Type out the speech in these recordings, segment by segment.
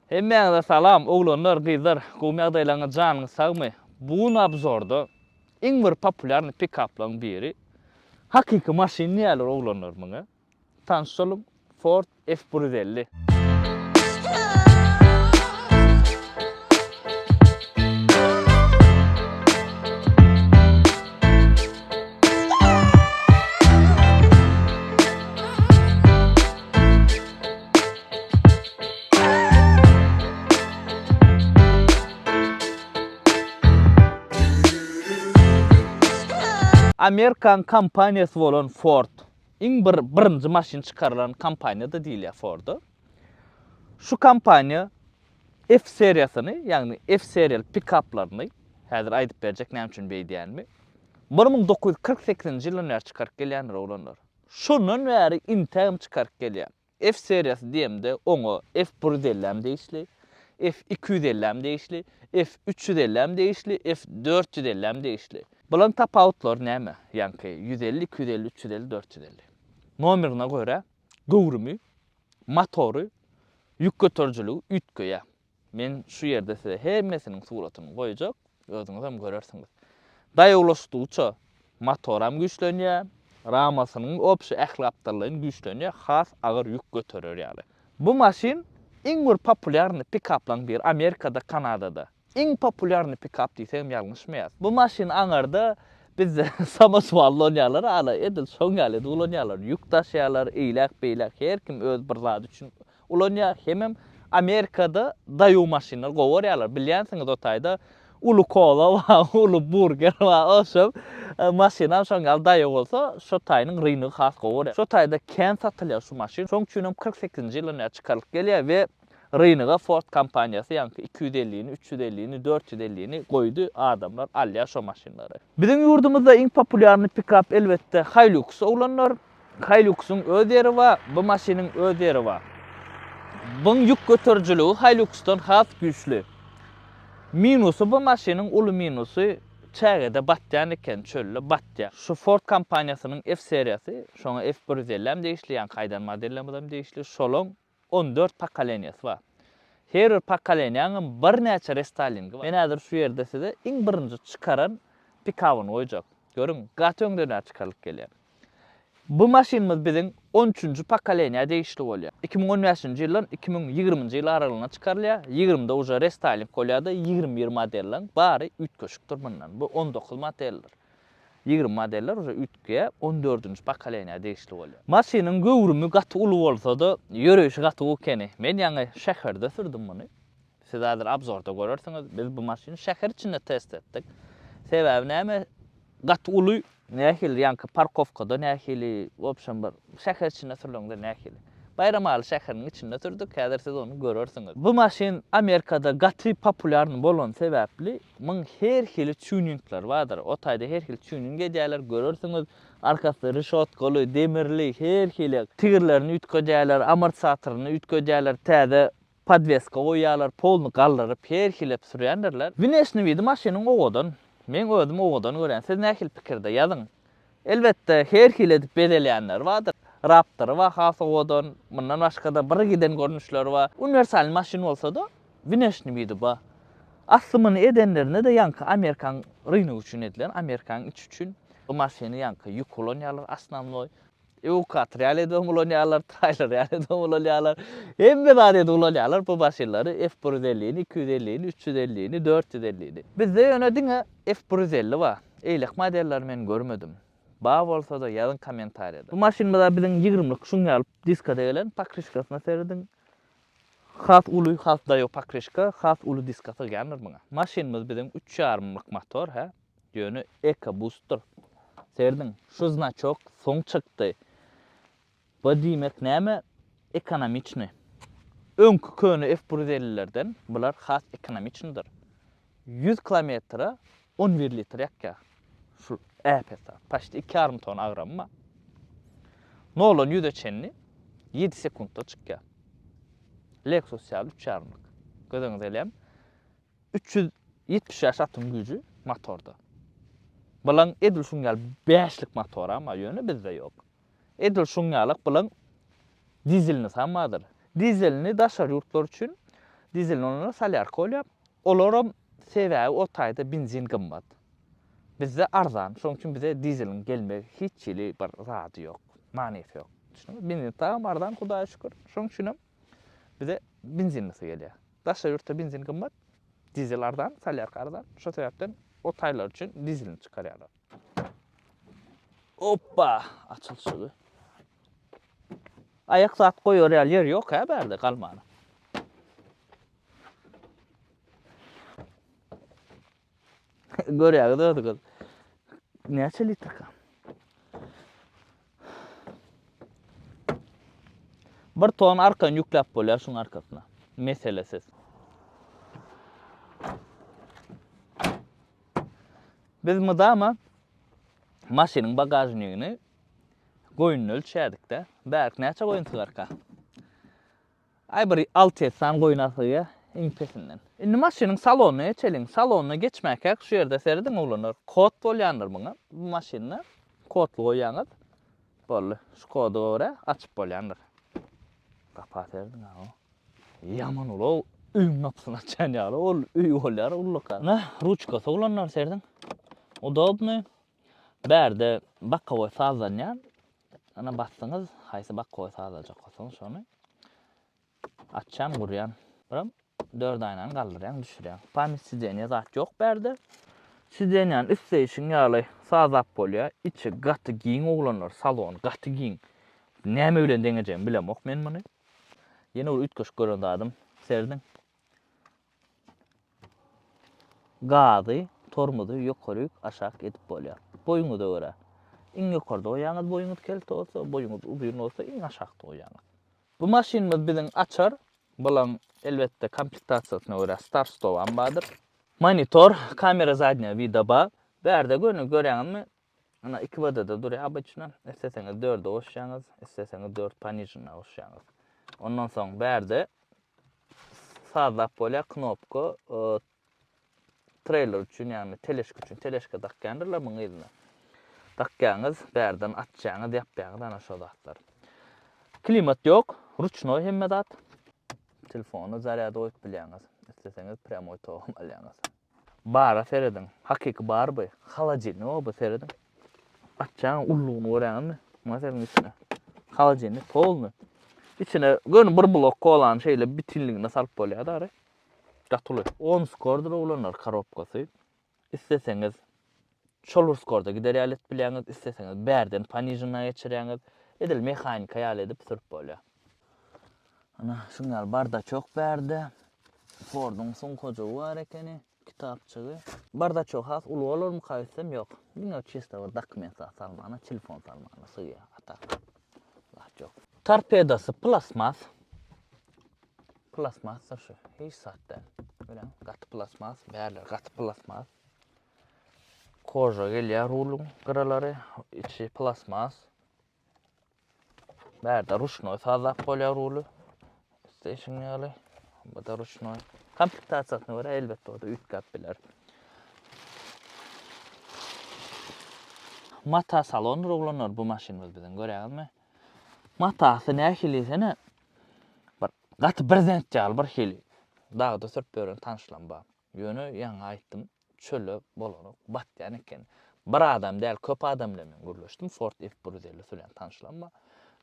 Hemmäňize salam oglanlar gyzlar gowymy ýagdaýlaryňyz janyňyz sagmy bu gün obzorda iň bir populýarny pikaplaň biri hakyky maşyn diýýärler oglanlar muňa tanşalyň ford f bir ýüz elli. Amerikan kompaniýasy bolan Ford. Iň bir birinji maşyn çykarylan kompaniýa-da diýilýär Ford-a. Şu kompaniýa F seriýasyny, ýagny F seriýaly pikaplaryny, häzir aýdyp berjek näme üçin beýdýänimi, bir müň dokuz ýüz kyrk sekizinji ýyldan bäri çykaryp gelýändir, oglanlar. Şondan bäri intägem çykaryp gelýän. F seriýasy diýemde oňa F bir ýüz elli hem degişli, F iki ýüz elli hem degişli, F üç ýüz elli hem degişli, F dört ýüz elli hem degişli. Bularyň tapawutlary näme? Ýaňky ýüz elli, iki ýüz elli, üç ýüz elli, dört ýüz elli. Nomerine görä göwrümi, motory, ýük göterijiligi üýtgeýär. Men şu ýerde size hemmesiniň suratyny goýjak, özüňizem görersiňiz. Daýa ulaşdygyça motoram güýçlenýär, ramasynyň obşi ähli gapdallaýyn güýçlenýär, has agyr ýük göterer ýaly. Bu maşyn iň bir populýarny pikaplaň biri Amerikada, Kanadada. Iň populýarny pikap diýsegem ýalňyşmaýas. Bu maşyn aňarda bizde samoswal ulanýarlar ala edil şoň ýaly edip ulanýarlar, ýük daşaýarlar, eýläk-beýläk, her kim öz bir zady üçin Ulanýar hemem Amerikada daýow maşynlar gowy görýärler. Bilýänsiňiz o taýda uly kola bar, uly burger bar. Oşol maşynam şoň ýaly daýow bolsa şo taýynyň ryngy has gowy görýär. Şo taýda kän satylýar şu maşyn. Şoň üçinem kyrk sekizinji ýyldan bäri çykarylyp gelýär we rynyga Ford kompaniýasy ýaňky iki ýüz ellini, üç ýüz ellini, dört ýüz ellini goýdy. Adamlar alýar şo maşynlary. Biziň ýurdumyzda iň populýarny pikap elbetde Hilux oglanlar. Hiluxyň öz ýeri bar, bu maşynyň öz ýeri bar. Buň ýük göterijiligi Hiluxdan has güýçli. Minusy bu maşynyň uly minusy çägede batýan eken çölde batýa. Şu Ford kompaniýasynyň F-seriýasy, şoňa F bir ýüz elli hem degişli, ýaňky aýdan modellerimiz hem degişli, şolaň On dört pokoleniýasy bar. Her bir pokoleniýanyň birnäçe restoýlingi bar. Men häzir şu ýerde size iň birinji çykaran pikawyny goýjak. Görüň, gaty öňden bäri çykarylyp gelýär. Bu maşynymyz biziň on üçünji pokoleniýa degişli bolýar. Iki müň on bäşinji ýyldan iki müň ýigriminji ýyl aralygynda çykarylýar. Ýigrimide uje restoýling bolýar-da, ýigrimi bir modeliň bary üýtgeşikdir mundan. Bu on dokuz modeldir. Ýigrimi modeller uje üýtgeýär, on dördünji pokoleniýa degişli bolýar. Maşynyň göwrümi gaty uly bolsa-da, ýöreýşi gaty gowy ekeni. Men ýaňy şäherde sürdüm muny. Siz häzir abzorda görersiňiz. Biz bu maşyny şäher içinde test etdik. Sebäbi näme? Gaty uly. Nähili ýaňky parkowkada nähili, w obşem bir şäher içinde sürlende nähili. Baýramaly şäheriniň içinde sürdük, häzir siz ony görersiňiz. Bu maşyn Amerikada gaty populýarny bolany sebäpli, Muň her hili tuninglary bardyr. O taýda her hili tuning edýärler, görersiňiz. Arkasy rişotkaly, demirli, her hili. Tigirlerini üýtgedýärler, amortisatoryny üýtgedýärler, täze podweska goýýarlar, poluny galdyryp, her hilep sürýändirler. Wneşniý widi maşynyň owadan. Meň özüm owadan görýän. Siz nähili pikirde? Ýazyň. Elbetde, her hili edip bezelýänleri bardyr. Raptory bar has owadan. Mundan başga-da bir giden görnüşleri bar. Uniwersal maşyn bolsa-da, wneşniý widi bar. Asly muny edenlerinde-de ýaňky Amerikan rynogy üçin edilen, Amerikanyň içi üçin. Bu maşyny ýaňky ýük ulanýarlar, osnownoý. Ewkator ýaly edem ulanýarlar, taýlar ýaly edem ulanýarlar. Hemme zady edip ulanýarlar bu maşynlary, F bir ýüz elli ni, iki ýüz elli ni, üç ýüz elli ni, dört ýüz elli ni. Bizde ýöne diňe F bir ýüz elli bar. Eýlek modelleri men görmedim. Bar bolsada ýazyň kommentariýada. Bu maşynymyza biziň ýigrimlik şuňňy alyp diskada gelen, pokrişkasyna serediň. Has uly, has daýow pokrişka, has uly diska sygýandyr muňa. Maşynymyz biziň üç ýarymlyk motor hä. Ýöne Eko Booster serdiň şu znaçok soň çykdy. Bu diýmek näme ekonomiçny. Öňki köne F bir ýüz ellilerden bular has ekonomiçnydyr. Ýüz kilometre on bir litr ýakýar. Şul äpetda paşt iki ýarym tona agramy bar. Noldan ýüze çenli ýedi sekuntda çykýar. Lexus ýaly üç ýarymlyk. Göz öňüňize elem. Üç ýüz ýetmiş bäş atom güýji motorda. Bulaň edil şuň ýaly bäşlik motoram bar, ýöne bizde ýok. Edil şuň ýalyk bulaň dizelini sam bardyr. Dizelini daşary ýurtlar üçin dizelini olara solýarka bolýar. Olaram sebäbi o taýda benzin gymmat. Bizde arzan. Şonuň üçin bize dizeliň gelmegi hiç hili bir zady ýok. Manysy ýok. Düşündiňizmi? Benzin tamam arzan Hudaýa şükür. Şonuň üçinem Bize benzinlisi gelýär. Daşary ýurtda benzin gymmat, dizel arzan, solýarka arzan. Şo sebäpden o taýlar üçin dizelini çykarýarlar. Oppa! Açylyşygy. Aýak zat goýar ýaly ýer ýok-a bärde galmana. Görýäňiz özüňiz. Näçe litrka? Bir ton arkan ýükläp bolýar şuň arkasyna. Meselesiz. Biz mydama maşynyň bagažnigini goýnuny ölçädik-de. Bärik näçe goýun sygarka? Aý bir alty etsan goýun asygýa iň pesinden. Indi maşynyň salonyna geçeliň. Salonyna geçmäkäk şu ýerde serediň oglanlar. Kod bolýandyr muňa. Bu maşynda kodly goýýaňyz. Boldy. Şu koda görä açyp bolýandyr. Gapa serediň aw. Ýaman ulag öýüň gapysyny açýan ýaly ol öý bolýar ullakan. Ynha ruçkasy oglanlar serediň. Udobnyý. Bärde bokowoý sazlanýar. Ana basdyňyz haýsy bakgowy sazlajakkasoň şony açýan gurýan biram dört aýnany galdyrýaň düşürýäň pamyt sidenýa zat ýok bärde sidenýany isleýşiň ýaly sazlap bolýa içi gaty giň oglanlar salony gaty giň näme bilen deňejegimi bilemok men muny ýene bir üýtgeşik gören zadym serdiň Gazy, tormozy ýokaryk, aşak edip bolýar. Boýuňyza görä. Iň ýokarda goýýaňyz boýuňyz kelte bolsa, boýuňyz uzyn bolsa iň aşakda goýýaňyz. Bu maşynymyz biziň açar, bulaň elbetde komplektasiýasyna görä start stop am bardyr. Monitor, kamera zadnýa wida bar. Bärde göni görýäňizmi Ana iki badada durýar obýçna, isleseňiz dörde goşýaňyz, isleseňiz dört ponižnýa goşýaňyz. Ondan soň bärde sazlap bolýar knopka treyler üçin ýagny teleşka üçin teleşka dakýandyrlar muň yzyna. Dakýaňyz, bärden açýaňyz, ýapýaňyz ana şo zatlar. Klimat ýok, ruçnoý hemme zat. Telefony zarýada goýup bilýäňiz. Isleseňiz prýamoý togam alýaňyz. Bara serediň. Hakyky bar by. Holodilnik o by serediň. Açjaň ullugyny görýäňizmi? Muňa serediň içine. Holodilnik polny. Içine göni bir blok kolany şeýle bitinligine salyp bolýar dary. Gaty uly. Omskordyr oglanlar korobkasy. Isleseňiz Şol urskorda gider ýaly edip bilýäňiz, isleseňiz bärden panižinna geçirýäňiz, edil mehanika ýaly edip sürüp bolýar. Ana, şuň ýaly bardaçok bärde. Forduň sumkajygy bar ekeni, kitapjygy. Bardaçok has uly bolarmyka öýtsem, ýok. Diňe çista bir dokument zat salmana, telefon salmana sygýar, a tak zat ýok. Torpedasy plastmas. Plastmasdyr şu, hiç zat däl. Görýäňiz, gaty plastmas, bärleri gaty plastmas. Koža gelýär ruluň gyralary, içi plasmas. Bärde ruşnoý sazlap bolýar ruly. Station ýaly. Bu da ruşnoý. Komplektasiýasyna görä elbetde o da üýtgäp biler. Mata salondyr oglanlar bu maşynymyz biziň görýäňizmi? Matasy nähili sene? Bir gaty birzent ýaly bir hili. Dagda sürüp ýören tanşlam bar. Ýöne ýaňy aýtdym, çöle bolanok, batýan eken. Bir adam däl, köp adam bilen men gürleşdim, Ford F bir ýüz elli si bilen tanyşlam bar.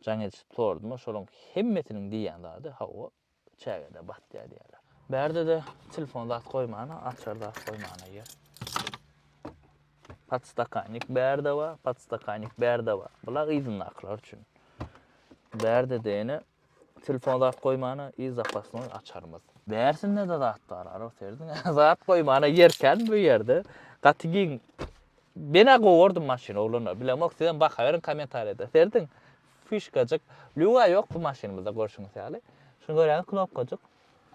Jaň edişip sordyma, şolaryň hemmesiniň diýýän zady, hawa, çägede batýar diýýärler. Bärde-de telefon zat goýmana, açar zat goýmana ýer. Podstakannik bärde bar, podstakannik bärde bar. Bula yzyndakylar üçin. Bärde-de ýene Telefona zat goýmana i zapasnoý açarymyz. Bärsinde-de zat bar, ara serdiň. Zat goýmana ýerkän bu ýerde. Gaty giň. Menä gowardym maşyny oglanlar. Bilemok sizem baka beriň kommentariýada. Serdiň. Fişkajyk. Lýuga ýok bu maşynymyzda görşüňiz ýaly. Şuny görýäňiz knopkajyk.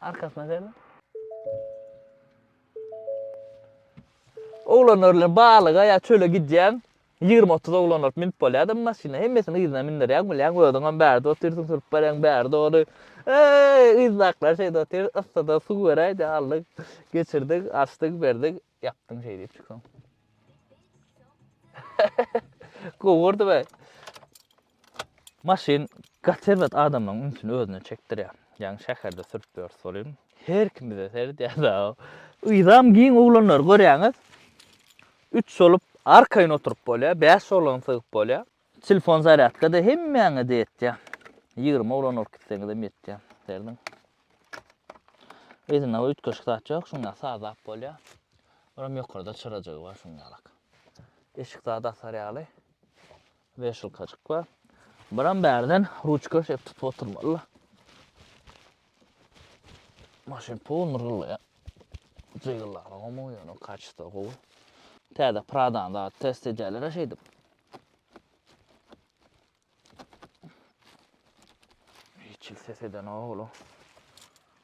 Arkasyna serdiň. Oglanlar bilen baglyga ýa çöle gidýäň. Ýigrimi-otuz oglan bolup münüp bolýa-da bu maşyna, hemmesini yzyna mündürýäň, bilýäň, özüňem bärde otyrsyň, sürüp bereň bäri dogry. Eý, yzdakylar şeýde otyrys, yssyda suw beräýdi, aldyk, geçirdik, açdyk, berdik, ýapdyň şeý diýip çykyň. Gowy gördüm-ä. Maşyn gaty erbet adamlaň ünsüni özüne çekdirýär. Ýaňy şäherde sürüp ýörüs welin her kim bize seredýär dagy. Yzam giň oglanlary görýäňiz. Üç bolup arkaýyn oturyp bolýar, bäş oglan sygyp bolýar. Telefon zarýadkada hemmäňede ýetýär. Ýigrimi oglan alyp gitseňizem ýetýär. Serediň. Yzynda üýtgeşik zat ýok, şuň ýaly sazlap bolýar. Olam ýokarda çyrajygy bar şuň ýalak. Eşik zady asar ýaly. Weşilkajyk bar. Biram bärden ruçka şeýip tutup oturmaly-la. Maşyn pul myrgyldaýar. Jygyllaryna gomuň ýöne kaçta gowy. Täze Pradany da test edýärler şeýdip. Hiç il ses eden oglu.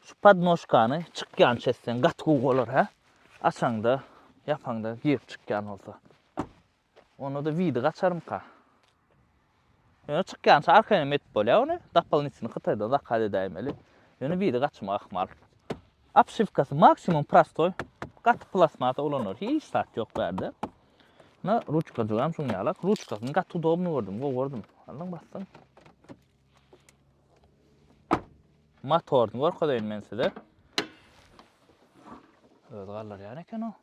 Şu podnoşkany çykýan çetden gat gowy bolar hä? Açaňda, ýapaňda girip çykýan bolsa. Onda-da widi gaçarmyka? Ýöne çykýança arkaýynam edip bolýar ony. Dopolnitini Hytaýdan zakaz edäýmeli. Ýöne widi gaçmak ahmal. Obşiwkasy maksimum prostoý. Gaty plastmasa ulanylýar. Hiç zat ýok bärde. Na ruçkajygam şuň ýalak. Ruçkasyny gaty udobny gördüm, gowy gördüm. Aldyň basdyň. Motoryny görkezeýin men size. Özi galdyrýan eken o.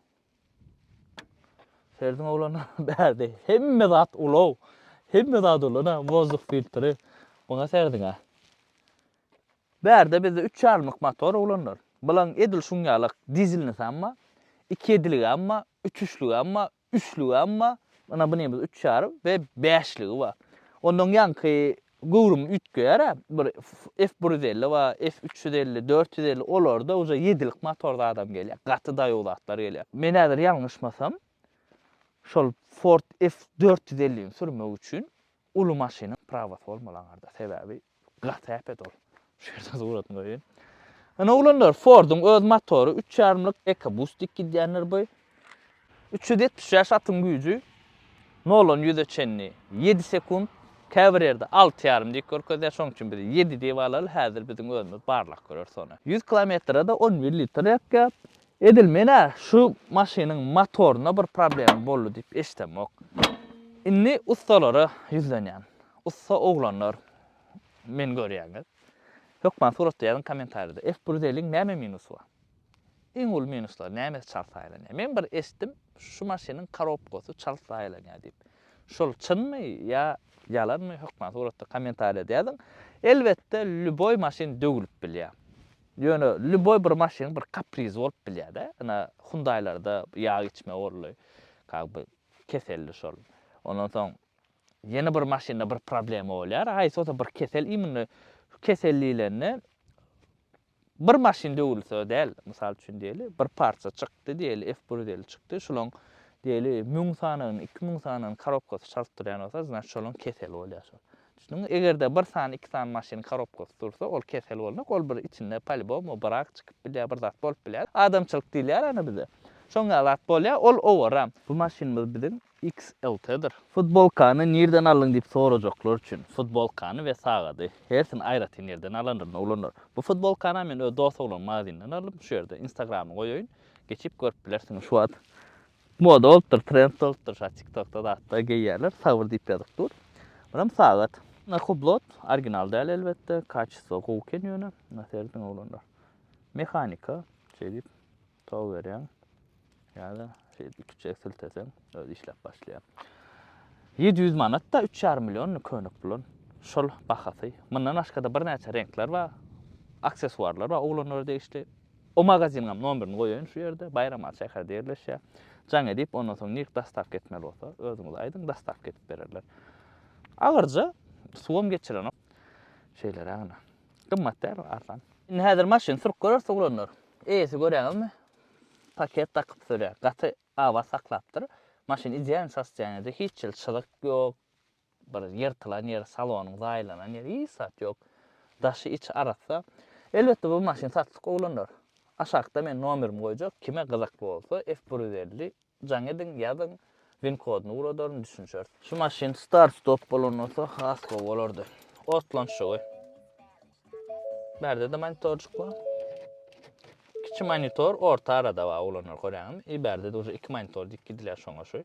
Ferdiň oglanlar bärde hemme zat ulag. Hemme zat ulana, wozduk filtri. Muňa serdiňä. Bärde bizde 3 ýarymlyk motor oglanlar. Bulaň edil şuň ýalak dizelnisam bar. Iki ediligem bar, üç üçlügem bar, üçlügem bar. Ina bunymyz üç ýarym we bäşligi bar. Ondan ýaňky Göwrümi üýtgeýär-ä. Bir F bir ýüz elli bar, F üç ýüz elli, dört ýüz elli, olarda uje ýedilik motor zadam gelýär. Gaty daýaw zatlar gelýär. Men häzir ýalňyşmasam, şol Ford F dört ýüz ellini sürmek üçin uly maşynyň prawasy bolmaly aňarda. Sebäbi gaty äpet ol. Şu ýerde suratyn goýaýyn. Ine oglanlar, Ford-yň öz motory, üç ýarymlyk EcoBoost diýip gidýänler bu. Üç ýüz ýetmiş bäş atyň güýji. Noldan ýüze çenli ýedi sekunt. Käbir ýerde alty ýarym diýip görkezýär, şonuň üçin biz ýedi diýip alaly, häzir biziň özümiz barlap göreris ony. Ýüz kilometre-de on bir litr ýakýar. Edil men-ä şu maşynyň motorynda bir problema boldy diýip eşidemok. Indi ussalara ýüzlenýän. Ussa oglanlar, meni görýäňiz. Hökman suratda ýazyň kommentariýada. F bir zeliň näme minusy bar? Iň uly minuslary nämesi çalt saýlanýar? Men bir eşitdim şu maşynyň karobkasy çalt saýlanýar diýip. Şol çynmy ýa ýalanmy hökman suratda kommentariýada ýazyň. Elbetde lýuboý maşyn döwülip bilýär. Ýöne lýuboý bir maşynyň bir kaprizi bolup bilýärde. Ina Hyundailarda ýag içme boldy. Kaby keseldi şol. Ondan soň Ýene bir maşynda bir problema bolýar, haýsy bolsa bir kesel iýminde, şu kesel diýlende bir maşyn döwülse däl, mysal üçin diýeli, bir partiýa çykdy diýeli, F bir ýüz elli çykdy, şolaň diýeli müň sanagyny, iki müň sanagyny korobkasy çalyp durýan bolsa, znaçt şolaň keseli bolýar şol. Düşündiňmi? Eger-de bir sany, iki sany maşynyň korobkasy dursa, ol kesel bolmak, ol bir içinde polýubomu brak çykyp bilýär, bir zat bolup bilýär. Adamçylyk diýilýär ony bize. Şoň ýaly zat bolýar, ol owaram. Bu maşynymyz biziň XLT-dir. Futbolkany nirden aldyň diýip sorajaklar üçin, futbolkany we sagady, hersini aýratyn ýerden alandygyny uglanlar. Bu futbolkany-a men öz dost oglunyň magazinden aldym, şu ýerde instagramyny goýaýyn, geçip görüp bilersiňiz. Şu wagt moda bolupdyr, trend bolupdyr, şa tiktokda zatda geýýärler, Sawyr diýip ýazyp dur. Buram sagat. Na hublot, original däl elbetde, kaçesto gowy eken ýöne, na serediň oglanlar. Mehanika, şeýdip. Tow berýäň ýa-da şeýdip iki çek silteseň özi işläp başlaýar. Ýedi ýüz manat-da üç ýarym million köne pulun şol bahasy. Mundan başga-da birnäçe reňkler bar, aksessuarlar bar oglanlara degişli. O magaziniňem nomerini goýaýyn şu ýerde, Baýram Aly şäherinde ýerleşýär. Jaň edip, ondan soň nird dostawka etmeli bolsa, özüňiz aýdyň, dostawka edip bererler. Agyrja, suwam geçirenok. Şeýlerägine. Gymmat däl arsan. Indi häzir maşyn sürüp görersiz oglanlar. Eýesi göräňizmi? Paket dakyp sürýär. Gaty abat saklapdyr. Maşyn idealny sostoýaniýa ýerde hiç hili çyzyk ýok. Bir ýyrtylan ýeri, salonyň zaýalanan ýeri hiç zat ýok. Daşy içi arassa. Elbetde bu maşyn satlyk oglanlar. Aşakda men nomerimi goýjak. Kime gyzykly bolsa F bir ýüz elli Jaň ediň, ýazyň, win kodyny ugradalyn, düşünişeris. Şu maşyn start stop bolan bolsa has gowy bolardy. Otlanşygy. Bärde-de monitorjyk bar. Kiçi monitor orta arada bar oglanlar görýäňizmi? I bärde-de uje iki monitor diýip gidilýär şoňa şu.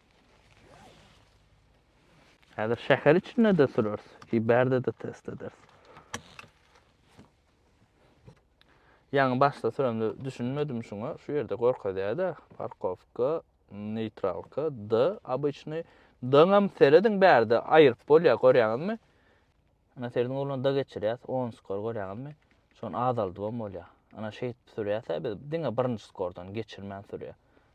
Häzir şäher içinde-de süreris, ki bärde-de test ederis. Ýaňy başda süremde düşünmedim şuňa, şu ýerde görkezýär-de, parkowka, neýtralka, D, obyçnyý. D-ňam serediň bärde aýryp bolýar, görýäňizmi? Ana serediň ugruna D geçirýäs, 10 skor görýäňizmi? Şony azaldybam bolýar. Ana şeýdip sürýäs-ä biz, diňe birinji skordan geçirmän sürýär.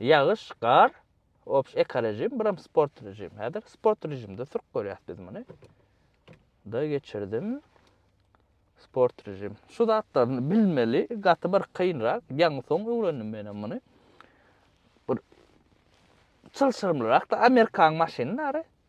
Ýagyş, gar, obş ekorežim, biram sport režim. Häzir sport režimde sürüp görýäs biz muny. Da geçirdim. Sport režim. Şu zatlaryny bilmeli, gaty bir kynrak. Ýaňy soň öwrendim menem muny. Bir çylşyrymlyrak da Amerikan maşynlary.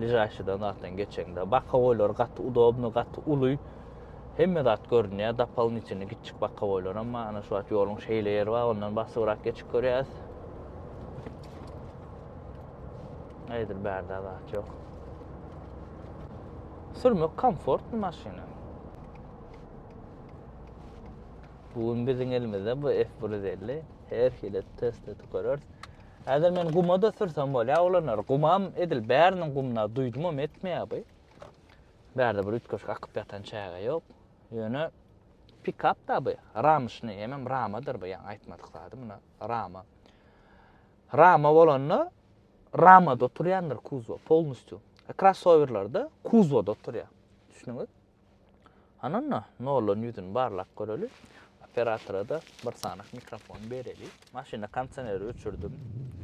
Ližaşydan zatdan geçeňde. Bakowoýlar gaty udobny, gaty uly. Hemme zat görünýär, dopolnitini gitçik bakowoýlar hem bar. Ana şu wagt ýoluň şeýle ýeri bar, ondan basybrak geçip görýäs. Eýdir bärde zat ýok. Sürmek komfortny maşyna. Bu gün biziň elimizde bu F150. Her hili test edip görürs. Häzir men guma-da sürsem bolýa oglanlar. Gumam edil bäriniň gumuna duýdumam etmeýä bu. Bärde bir üýtgeşik akyp ýatan çäge ýok. Ýöne pikap-da bu. Ramyşny, hemem ramadyr bu, ýaňy aýtmadyk zady muna, rama. Rama bolanda ramada oturýandyr kuzwa polnistýu. Krossowerlerde kuzwada oturýa. Düşdüňiz? Anna, Nolan ýüzüni barlap göreli. Operatora-da bir sanyk mikrofon bereli. Maşynda kondisioneri öçürdim.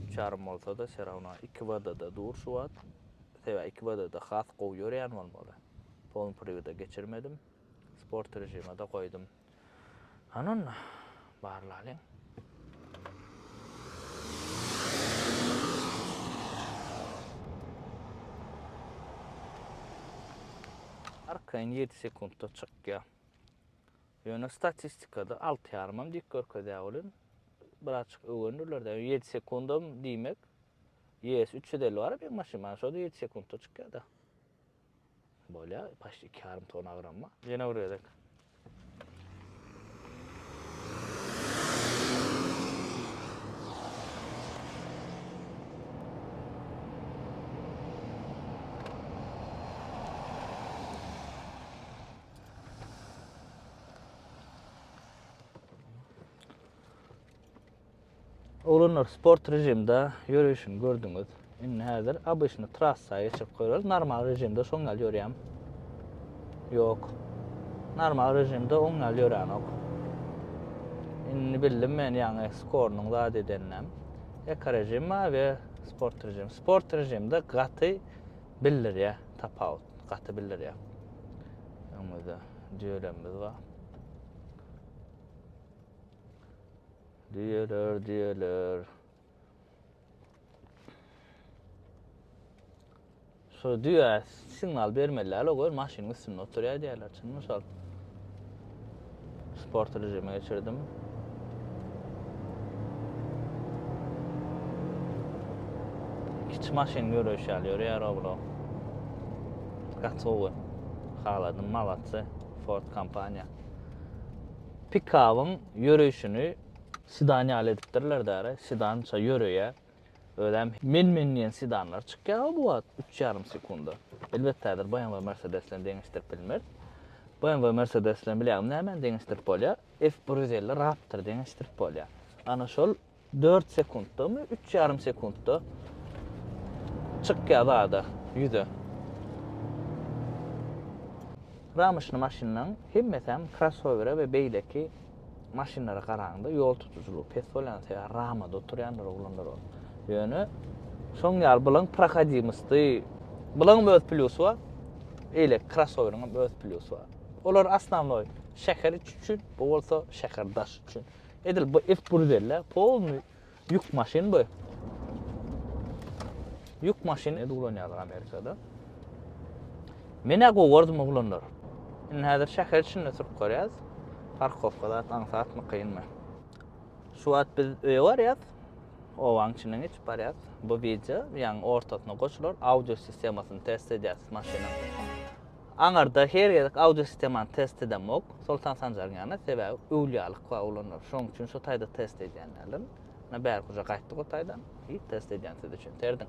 Üç ýarym bolsa-da, se rawno iki WD-da dur şu wagt. Sebä iki WD-da has gowy ýörýän bolmaly. Polny priwoda geçirmedim. Sport režime-de goýdum. Hany onda, barlalyň. Arkaýyn ýedi sekuntda çykýar. Ýöne statistikada alty ýarymam dik görkezýär welin, birazjyk öwrenirler-de, ýedi sekundam diýmek, ES üç ýüz elli bar-a beýik maşyn, maňa şo-da ýedi sekuntda çykýar-da. Bolýa paşt iki ýarym tona gramma. Ýene bir gezek. Oglanlar sport režimde ýörüşini gördüňiz. Indi häzir obyçny trassa geçirip göreriz. Normal režimde şoň ýaly ýörýäm. Ýok. Normal režimde oň ýaly ýöränok. Indi bildim men ýaňy skornyň zat edeninem. Eko režim we sport režim. Sport režimde gaty bildirýär tapawut. Gaty bildirýär. Öňümizde düýelerimiz bar. Diýeler, diýeler. Şu düýä signal bermeli däl, o maşynyň üstünde oturýar diýerler, çynmy şol? Sport rejimi geçirdim. Kiçi maşyn ýöreýiş ýaly ýörýär oblo. Gaty gowy. Haladym, malatsa, Ford kompaniýa. Pikabyň ýöreýşini sedan ýaly edipdirler däre. Sedan şa ýöreýär. Özem men-men diýen sedanlar çykýar-a bu wagt üç ýarym sekunda. Elbetde häzir BMW Mercedes bilen deňeşdirip bilmeris. BMW Mercedes bilen bilýäňmi nämäni deňeşdirip bolýar? F bir ýüz elli Raptor deňeşdirip bolýar. Ana şol Dört sekuntdamy, üç ýarym sekuntda çykýar zada, ýüze. Ramyşny maşynlaryň hemmesem krossowere we beýleki maşynlara garanda ýol tutujylygy pes bolýan sebäbi ramada oturýanlar oglanlar ol. Ýöne şoň ýaly bulaň prohodimosty bulaň öz plýusy bar. Eýle krossoweriň öz plýusy bar. Olar asnamloý şäher üçin, bu bolsa şäher daş üçin. Edil bu ep bruzelle polny ýük maşyn bu. Ýük maşyn edil ulanýarlar Amerikada. Menä gowardymy oglanlar. Indi häzir şäher içinde sürüp görýäs. Parkowka zat aňsatmy kynmy. Şu wagt biz öýe barýas. Owaň içinden geçip barýas. Bu wideo ýaň ortasyna goşular. Audio sistemasyny test edýäs maşynyň. Aňyrda her gezek audio sistemany test edemok, Soltan Sanjaryň ýanyna, sebäbi öwlýalyk bar olanlar, şonuň üçin şu taýda test edýän däldirin. Ine bärkuja gaýtdyk o taýdan, i test edýän siz üçin, serediň.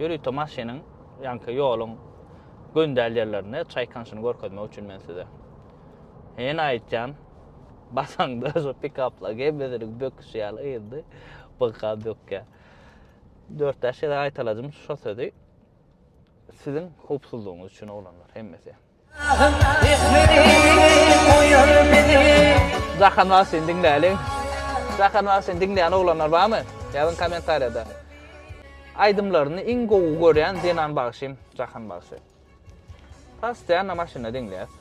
Ýörite maşynyň ýaňky ýoluň göndäl ýerlerinde çaýkanyşyny görkezmek üçin men size. Ýene aýtýan, basaňda şu pikapla gemmesiniň böküşi ýaly ýydy, bygka bökýä. Dört-bäş gezek aýtalajym şu sözi. Siziň howpsuzlygyňyz üçin oglanlar hemmesi. Jahan bar seni diňläliň. Jahan bar seni diňleýän oglanlar barmy? Ýazyň kommentariýada. Aýdymlaryny iň gowy görýän zenan bagşym Jahan bagşy. Postoýanna maşynda diňleýäs.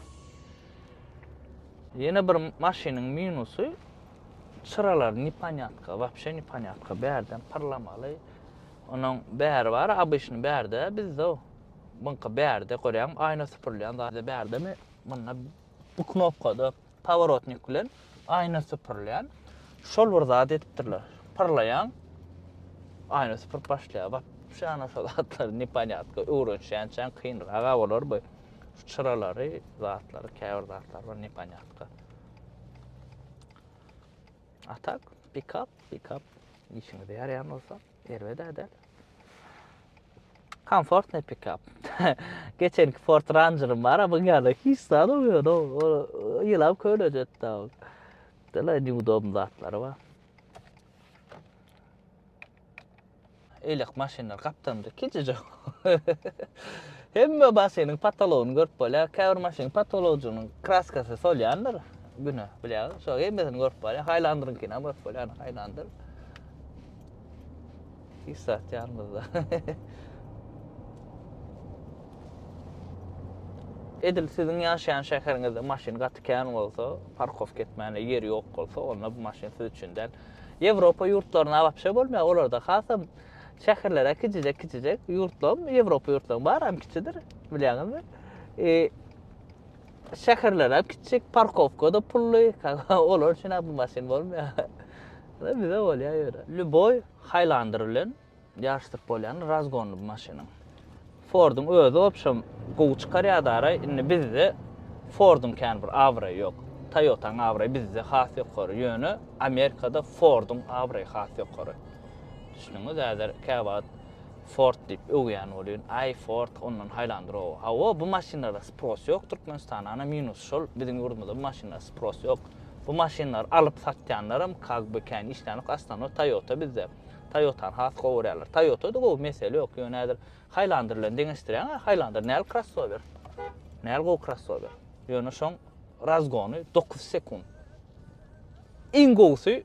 Ýene bir maşynyň minusy çyralar neponýatka, wapşe neponýatka bärden pyrlamaly. Onuň bäri bar, abyşny bärde bizde. Muňka bärde görýäňmi aýna süpürilýän zady bärdemi munda bu knopkada paworotnik bilen aýna süpürilýän şol bir zat edipdirler pyrlaýaň aýna süpürip başlaýar bap şu ana şol zatlar neponýatko öwrenişýänçäň kynrak a bolar bu şu çyralary zatlary käbir zatlar bar neponýatko a tak pikap pikap işiňize ýaraýan bolsa Erbet-ä däl. Komfortny pikap. Geçenki Ford Ranger'ym bar, bu ýerde hiç zat ýok. O ýylap kölejetdi. Dela neudobny zatlary bar. Eýlek maşynlar gapdalymda kiçijik. Hemme maşynyň patologyny görüp bolýar. Käbir maşynyň patologijynyň kraskasy solýandyr güne, bilýär. Şo hemmesini görüp bolýar. Haýlandyryňkyny hem görüp bolýar, haýlandyr. Hiç zat ýanymyzda. Edil siziň ýaşaýan şäheriňizde maşyn gaty kän bolsa, parkowka etmäne ýer ýok bolsa, onda bu maşyn siz üçin däl. Ýewropa ýurtlaryna wapşe bolmaýar, olarda hasam şäherlere kiçijek-kiçijek ýurtlaryň, Ýewropa ýurtlaryň bary hem kiçidir, bilýäňizmi? E, Şäherlerem kiçjik, parkowka-da pully, olar üçin-ä bu maşyn bolmaýar. Bize bolýar ýöne. Lýuboý Haýlandyr bilen ýaryşdyryp bolýan razgonly bu maşynyň. Forduň özi wobşem gowy çykarýardy araý, indi bizde Forduň kän bir abraýy ýok. Toýotaň abraýy bizde has ýokary, ýöne Amerikada Forduň abraýy has ýokary. Düşdüňiz, häzir käwagt Ford diýip öwýän bolýun. Aý Ford ondan haýlandyr-ow. Hawa bu maşynlara spros ýok Türkmenistana minus şol biziň ýurdumyzda bu maşynlara spros ýok. Bu maşynlary alyp satýanlaram kag by kän işlänok aslanok Toyota bizde. Toyotany has gowy görýärler. Toyota da gowy mesele ýok ýöne häzir haýlandyr bilen deňeşdirýäň a haýlandyr näl krossower. Näl gowy krossower. Ýöne şoň razgony dokuz sekunt. Iň gowusy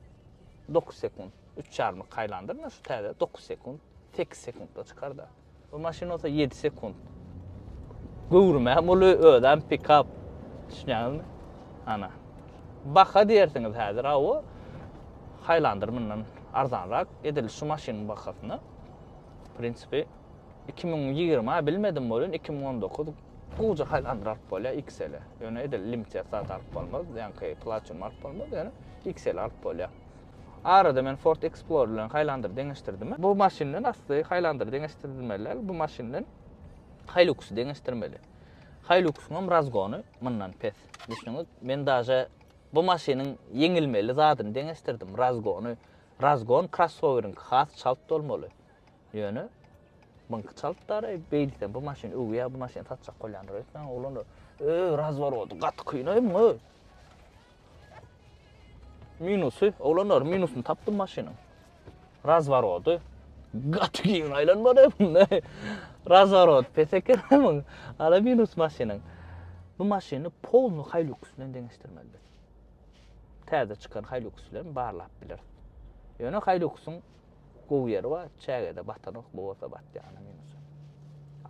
dokuz sekunt. Üç çarmyk haýlandyr na şu täze dokuz sekunt, sekiz sekuntda çykar da. Bu maşyn olsa ýedi sekunt. Göwrüm hem uly, özem pikap. Düşünýäňizmi? Ana. Baha diýersiňiz häzir, awa. Haýlandyr mundan arzanrak edil şu maşynyň bahasyna. W prinsipi 2020 bilmedim bolýan 2019 gowja haýlandyr alyp bolýar XL-e. Ýöne edil limited zat alyp bolmaz, ýaňky platin alyp bolmaz, ýöne XL alyp bolýar. Arada men Ford Explorer bilen Highlander deňeşdirdim. Bu maşyndan asly Highlander deňeşdirilmeli däl, bu maşyndan Hilux deňeşdirmeli. Hiluxyň hem razgony mundan pes. Düşüniňiz, men daže bu maşynyň ýeňilmeli zadyny deňeşdirdim, razgony. Razgon krossoweriňki has çalt bolmaly. Ýöne Bunky çalt dara, beýlsen bu maşyn öwýä, bu maşyn satjak bolýandyr öýtmäň oglanlar. Öý, razworody, gaty kynaýmyň öý. Minusy, oglanlar minusyny tapdym maşynyň. Razworody. Gaty giň aýlanmady bunda. Razworod pes ekeniň. Ala minus maşynyň. Bu maşyny polny Hilux bilen deňeşdirmeli biz. Täze çykan Hilux bilen barlap bileris. Ýöne Hiluxyň gowy ýeri bar, çägede batanok, bu bolsa batýar minusy.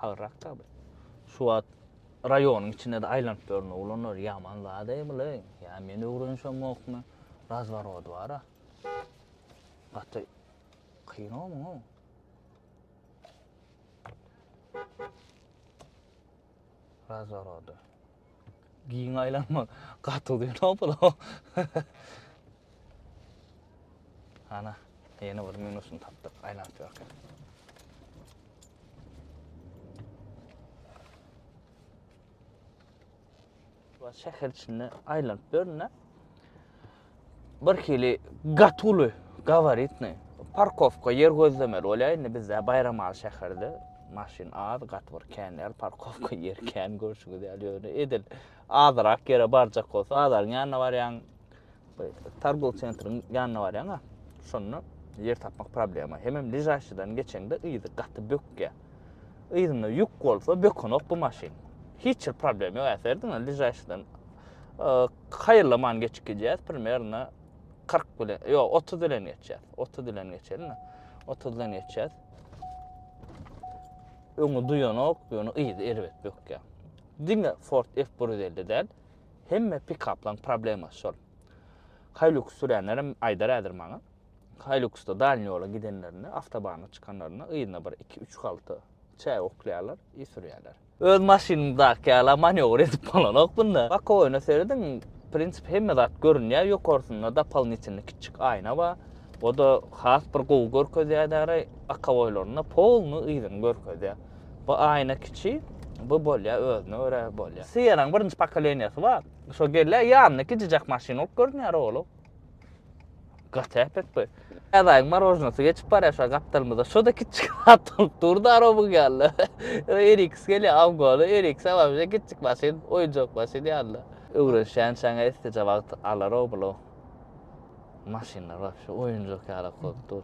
Agyrrak da bu. Şu wagt Raýonyň içinde-de aýlanyp ýörün oglanlar, ýaman zad-eý bul-eý, ýa men öwrenişemokmy, razworod bar-a. Gaty kyn-ow muňa. Razworody. Giň aýlanmak gaty uzyn-ow bul-ow. Ana, ýene bir minusyny tapdyk, aýlanyp ýörkä. Wa şäher içinde aýlanyp ýörün-dä. Bir hili gatuly, gabaritny. Parkowka ýer gözlemeli bolýar indi bizde Baýramaly şäherde. Maşyn az, gaty bir kän ýer, parkowka ýer kän görşüňiz ýaly ýöne edil azyrak ýere barjak bolsa bazaryň ýanyna barýaň, Targul sentriň ýanyna barýaňa, şonda ýer tapmak problema. Hemem ližaşydan geçeňde yzy gaty bökýä. Yzynda ýük bolsa bökenok bu maşyn. Hiç bir problem ýok äserdiň ližaşydan. Haýyrlaman geçip gidýär, primerna 40 bilen, ýok 30 bilen geçýär. 30 bilen geçelim. 30 bilen geçýär. Öňi duýanok, ýöne yzy erbet bökýä. Diňe Ford F150 däl, Hemme pikaplaň problemasy şol. Haýluks süränlerem aýdar häzir maňa. Haýluksda dalni ýola gidenlerinde, awtobana çykanlarynda yzyna bir iki, üç halta çäý oklaýarlar i sürýärler. Öz maşynyňdaky ýala manewr edip bolanok bunda. Bokowyna serediň, prinsip hemme zat görünýär, ýokarsynda dopalnitelny kiçjik aýna bar. O-da has bir gowy görkezýär däraý, akaboýlarynda polny yzyny görkezýär. Bu aýna kiçi, bu bolýa özüne görä bolýa. Sienanyň birinji pokoleniýasy bar. Şo gelýä ýanyna gijijek maşyn bolup görünýär ogly. Gaty äpet bu. Äzaýyň marojnasy geçip barýa şa gapdalymyzda. Şoda kiçijik zat bolup dur da robyň ýaly. Eriks gelýä awgoly, eriks a wabşe kiçijik maşyn, oýunjak maşyn ýaly. Öwrenişýän çaňa esdije wagt alar ogly. Maşynlar wabşe oýunjak ýalak bolup dur.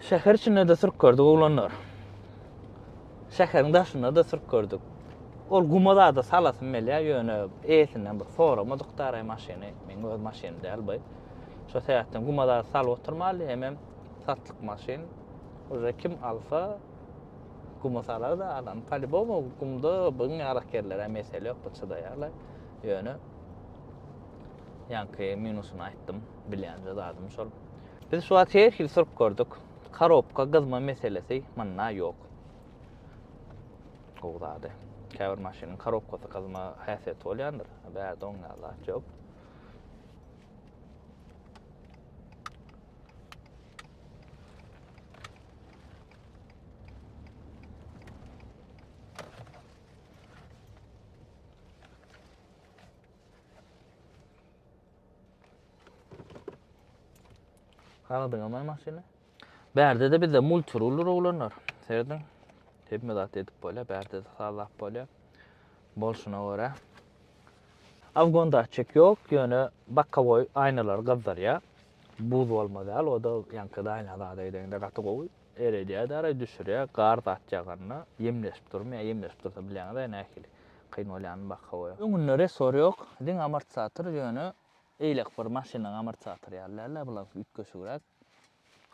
Şäher içinde-de sürüp gördük oglanlar. Şäheriň daşynda-da sürüp gördük. Ol guma zada salasym gelýär, ýöne eýesinden bir soramadyk daraý maşyny, meniň öz maşynym däl bu. Şo sebäpden guma zada salyp oturmaly, hemem satlyk maşyn. Uje kim alsa guma salar da alan. Polibom gumda biziň ýalak ýerlere mesele ýok, bu çydaýarlar. Ýöne ýanky minusyny aýtdym, bilýän zadym şol. Biz şu wagt her hili syryp gördük. Karobka gyzma meselesi munda ýok. Gowy zady. Käbir maşynyň karobkasy gyzma häsiýeti bolýandyr. Bärde oň ýaly zat ýok. Agdyňa maý maşyny. Bärde-de bizde multirully rowlanlar. Serediň. Hemme zat edip bolýar, bärde-de sazlap bolýar. Bolşuna görä. Afgon datçik ýok, ýöne bakkawoý aýnalary gyzdyrýar. Buz bolma däl, o-da ýaňky daýna zada edeňde gaty gowy. Eredýär-de araý düşürýär, gar zat ýaganda ýemleşip durmyýar, ýemleşip dursa bilýäňiz-aý nähili kyn bolýanyny baka goýa. Öňünde resor ýok, diňe amortizator, ýöne eýlek bir maşynyň amortizatory ýaly däl-ä, bulaňky üýtgeşigräk.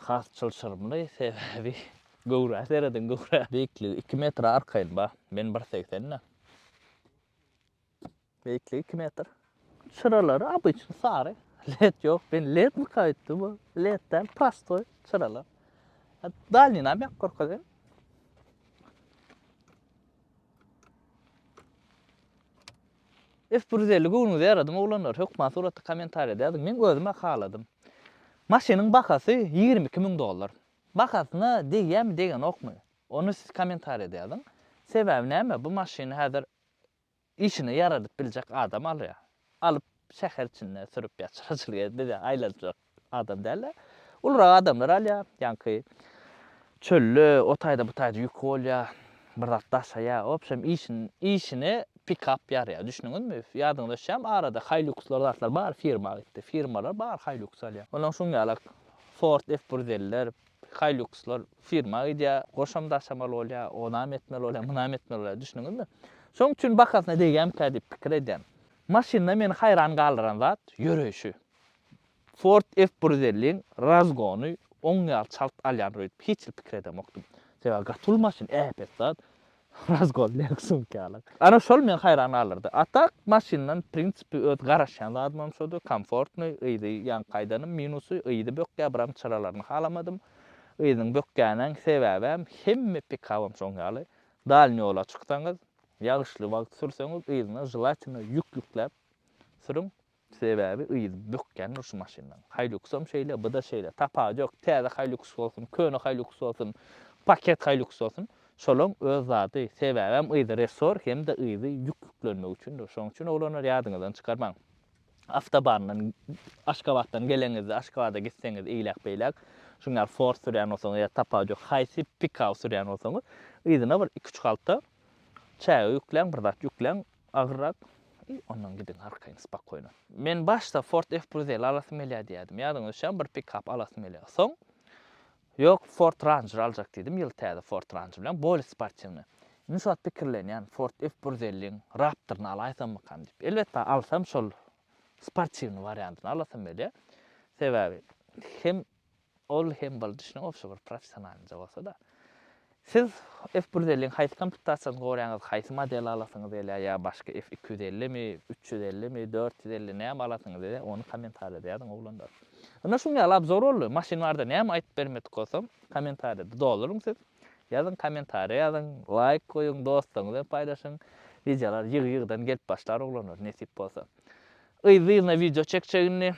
Has çylşyrymly, sebäbi göwrä serediň, göwrä! Beýikligi iki metre arkaýyn bar, men bir segsen-de. Beýikligi iki metr. Çyralary obyçny sary. Led ýok. Men ledmyka öýtdüm. Bu led däl, prostoý çyralar. Dalninam ýakyp görkezýän. F bir ýüz elli göwnüňize ýaradym oglanlar. Hökman suratda kommentariýada ýazyň. Men özüm-ä haladym. Maşynyň bahasy ýigrimi iki müň dollar. Bahasyna degýärmi, degenokmy? Ony siz kommentariýada ýazyň. Sebäbi näme? Bu maşyny häzir Işine ýaradyp biljek adam alýar. Alyp şäher içinde sürüp ýatyr. Bize aýlanjak adam dälde. Ulurak adamlar alýar. Ýaňky çölde o taýda bu taýda ýük bolýar. Bir zat daşaýar. Obşem işine pikap ýarýar. Düşnüňizmi? Ýadyňyza düşýärmi arada haýlukslar zatlar bar firma gitdi. Firmalar bar haýluks alýar. Onuň şuň ýalak Ford F bir ýüz elli ler Hilux-lar firma gidýär, goşam daşamaly bolýar, onam etmeli bolýar, munam etmeli bolýar, düşdüňizmi? Şonuň üçin bahasyna degýärmikä diýip pikir edýän. Maşynda meni haýran galdyran zat, ýöreýşi. Ford F-bir ýüz elliň razgony oň ýaly çalt alýandyr öýdüp hiç hili pikir edemokdym. Sebäbi gaty uly maşyn, äpet zat. Razgol derik sumkalar. Ana şol meni haýran galdyrdy. A tak maşyndan prinsipi öz garaşýan zadymam şody, komfortnyý, yzy ýaňky aýdanym minusy, yzy bökýä biram çyralaryny halamadym. Yzynyň bökýänäň sebäbäm hemme pikabam şoň ýaly. Dalny ýola çyksaňyz, ýagyşly wagt sürseňiz yzyna želatinyý ýük ýükläp sürüň. Sebäbi yzy bökýän dur şu maşynlaň. Haýluksam şeýle, bu-da şeýle. Tapagy ýok. Täze Haýluks bolsun, köne Haýluks bolsun, paket Haýluks bolsun, şolaň öz zady. Sebäbem yzy resor hem-de yzy ýük ýüklenmek üçin dur. Şoň üçin oglanlar ýadyňyzdan çykarmaň. Awtobandan Aşgabatdan geleňizde, Aşgabada gitseňiz eýläk-beýläk şuň ýaly Ford sürýän bolsaňyz ýa tapagy ýok haýsy pikap sürýän bolsaňyz, yzyna bir iki-üç halta çäge ýükläň, bir zat ýükläň. Agyrrak, I, ondan gidiň, arkaýyň spokýno. Men başda Ford F-Bruzel alasym gelýär diýýärdim. Ýadyňyza düşýärmi, bir pikap alasym gelýär. Soň, Ýok, Ford Ranger aljak diýdim, ýyl täze Ford Ranger bilen, bolýa sportiwnyý. Indi şu wagt pikirlenýän, Ford F-Bruzeliň Raptoryny alaýsammykam diýip. Elbetde, alsam şol sportiwnyý wariantyny alasym gelýär. Sebäbi, hem Ol hem boldy şunuň obşy bir professionalynja bolsa-da. Siz F bir ýüz elli-iň haýsy komplitasiýasyny gorýaňyz, haýsy modeli alasyňyz gelýär ýa başga F iki ýüz ellimi, üç ýüz ellimi, dört ýüz elli näme alasyňyz gelýär, ony kommentariýada ýazyň oglanlar. Ynha şuň ýaly abzor boldy. Maşyn barada näme aýdyp bermedik bolsam, kommentariýada doluryň siz. Ýazyň kommentariýa ýazyň, laýk goýuň, dostlaryňyz bilen paýlaşyň. Wideolar ýygy-ýygydan gelip başlar oglanlar nesip bolsa. Yzly-yzyna wideo çekjegini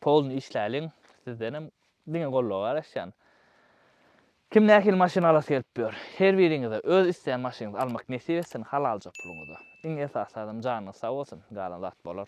Polny işläliň sizdenem diňe goldawa garaşýan. Kim nähili maşyn alasy gelip ýör. Her biriňize öz isleýän maşynyňyzy almak nesip etsin halalja puluňyza. Iň esasy zadam janyňyz sag bolsun, galan zat bolar.